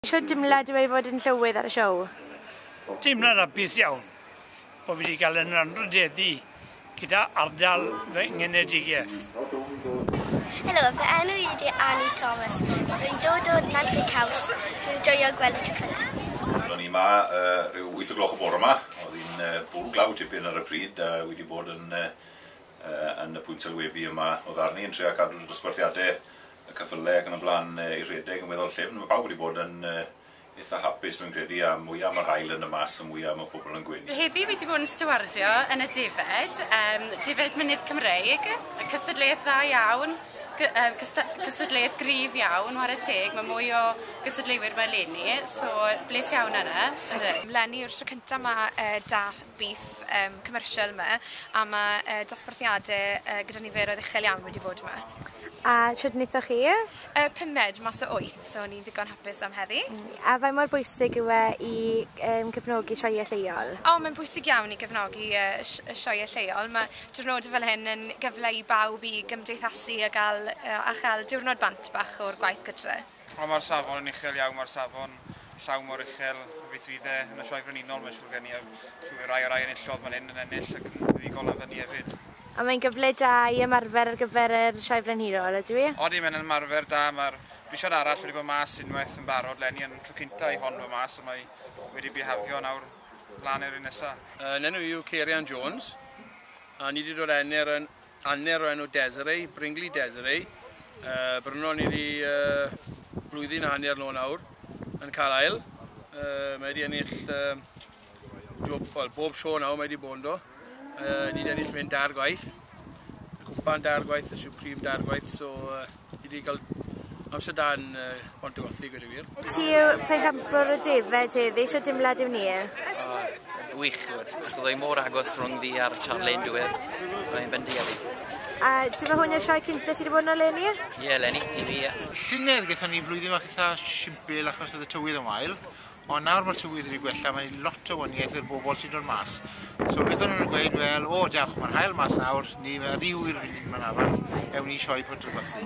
Shwt dimlad yw e i fod yn llywydd ar y siow? Teimlad hapus iawn bo fi 'di cael yn anrhydeddu gyda ardal fy ngenedigaeth. Helo, fy enw i ydi Annie Thomas, rwy'n dod o Nantlle Caws, rwy'n joio gweld y cyffylaeth. Wel o'n i 'ma ryw wyth o gloch y bore 'ma, o'dd hi'n bwl glaw tipyn ar y pryd a wi 'di bod yn yn y pwynt sylwebu yma o ddarn i yn trio cadw dosbarthiade y cyffyle ac yn y blaen i redeg yn weddol llyfn, mae pawb wedi bod yn eitha' hapus rwy'n credu, a mwya' mae'r haul yn y Mas y mwya' mae pobl yn gwenu. Heddi wi 'di bod yn stiwardio yn y defaid, yym defaid mynydd Cymreig, cystadleuaeth dda iawn, gy- yym cysta- cystadleuaeth gryf iawn ware teg, mae mwy o gystadleuwyr 'ma eleni, so bles iawn yna. Ydw. Eleni yw'r tro cynta' ma' yy 'da beef yym commercial 'ma a ma' yy dosbarthiade yy gyda niferoedd uchel iawn wedi bod 'ma. A shwd nethoch chi? Yy pumed mas o wyth so o'n i'n ddigon hapus am heddi. A faint mor bwysig yw e i yym cefnogi sioeau lleol? O mae'n bwysig iawn i gefnogi yy y sh- y sioeau lleol ma' diwrnode fel hyn yn gyfle i bawb i gymdeithasu a ga'l yy a cha'l diwrnod bant bach o'r gwaith gytre. Wel mae'r safon yn uchel iawn, mae'r safon llaw mor uchel y beth fydd e yn y Sioe Frenhinol, mae'n siŵr gen i, a siŵr fydd rai o rai enillodd fan hyn yn ennill ac yn mynd i gol lan fyny hefyd. A mae'n gyfle da i ymarfer ar gyfer y Sioe Frenhinol, ydyw i? Odi, mae'n ymarfer da, mae'r brisiad arall wedi bod mas unwaith yn barod 'leni, yn tro cynta' i hon fod mas a mae wedi bihafio nawr lan i'r un nesa'. Yn enw i yw Ceirian Jones, A ni di dod enner yn anner o enw Desiree, Bringley Desiree. Uh, Bryno ni di uh, blwyddyn a hanner nôl nawr yn cael ail. Uh, mae wedi ennill uh, glwb, well, bob sio nawr mae wedi bod yn do. Uh, ni wedi ennill fe'n dair gwaith. Y cwpan dair gwaith, y supreme dair gwaith, so uh, Fi wedi cael amser da yn uh, Pont y Gothi, gwed i wir. Ti yw ffeindambwr y defaid heddi, eisiau dimlad yw ni? Uh, wych, gwed. Chwyddo i mor agos rhwng fi a'r Charlene diwedd. Rwy'n bendi a fi. A dy fe hwn i'r sioe cynta ti wedi bod yno, Lenny? Ie, yeah, Lenny, i fi, ie. Yeah. Llynedd gyda ni flwyddyn fach eitha simpl achos oedd y tywydd yn wael, ond nawr mae'r tywydd wedi gwella, mae lot o waniaeth i'r bobl sy'n dod mas. So beth o'n nhw'n gweud, wel, o, diolch, mae'r hael mas nawr, ni, mae rhyw i'r un ma'n arall, ewn ni sioe pot y gwathi.